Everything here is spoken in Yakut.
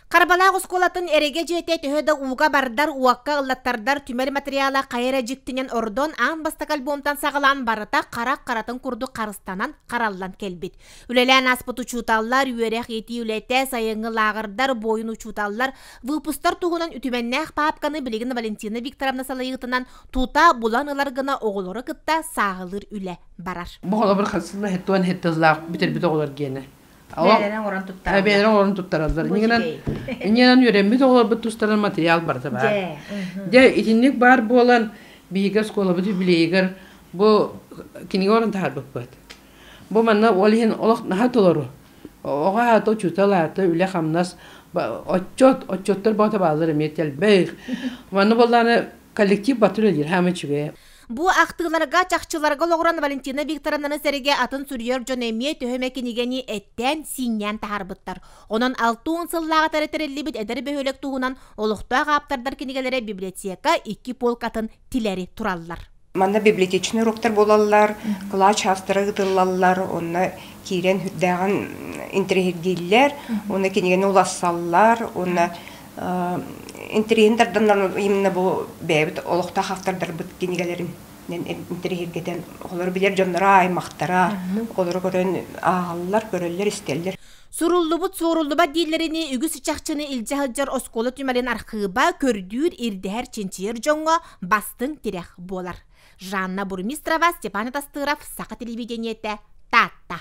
Харбалаах оскуолатын эрэгэ дьиэтэ төһө да ууга бардар, уокка ыллаттардар түмэл материала хайа эрэ дьиктинэн ордон, аан бастакы альбомтан саҕалаан барыта харах харатын курдук харыстанан, хараллан кэлбит. Үлэлээн ааспыт учууталлар, үөрэх-иитии үлэтэ, сайыҥҥы лааҕырдар, буойун учууталлар выпустар туһунан үтүмэннээх паапканы билигин Валентина Викторовна салайыытынан тута булан ылар гына оҕолору кытта сааһылыыр үлэ барар. Бу холобур хас тыла хэт туон хэт тыллаах бүтэрбит оҕолор гиэнэ. Бэйэлэрин оҥорон туттараллар. Бэйэлэрин оҥорон туттараллар. Иннинэн үөрэммит оҕолорбут тустарынан матырыйаал барыта баар. Дьэ, итинник баар буолан, биһиги оскуолабыт юбилейыгар бу кинигэ орун таһаарбыппыт. Бу манна ол иһин олох наһаа толору. Оҕо аата, учуутал аата, үлэ-хамнас, отчет, отчеттор бота бааллар эмиэ тэлбэх. Манна боллааны коллектив батыр өдир, хаама үчүгэй. Бу ахтыыларга чахчыларга олоҕуран Валентина Викторовнаны сэргэ атын суруйар дьон эмиэ төһө эмэ кинигэни эттээн, сииннээн таһаарбыттар. Онон 6 уон сыллааҕыта тэриллибит эдэр бөһүөлэк туһунан олохтоох ааптардар кинигэлэрэ библиотека икки полкатын тилэри тураллар. Манна библиотечный уруктар буолаллар, кылач автора ыытыллаллар, онно киирэн үрдээҕин интэриэһиргииллэр, уонна кинигэни улассаллар, уонна интэриэһин тарданнар именно бу бэйэбит олохтоох автордарбыт кинигэлэрин интэриэһиргэтэн оҕолору билэр дьонноро аймахтара оҕолору көрөн ааҕаллар көрөллөр-истэллэр Суруллубут суоруллубат дииллэринии үгүс чахчыны илдьэ сылдьар оскуола түмэлин архыыба көрдүүр, ирдэһэр, чинчийэр дьоҥҥо бастыҥ тирэх буолар. Жанна Бурмистрова, Степан Атастыров, Саха телевидениете, Таатта.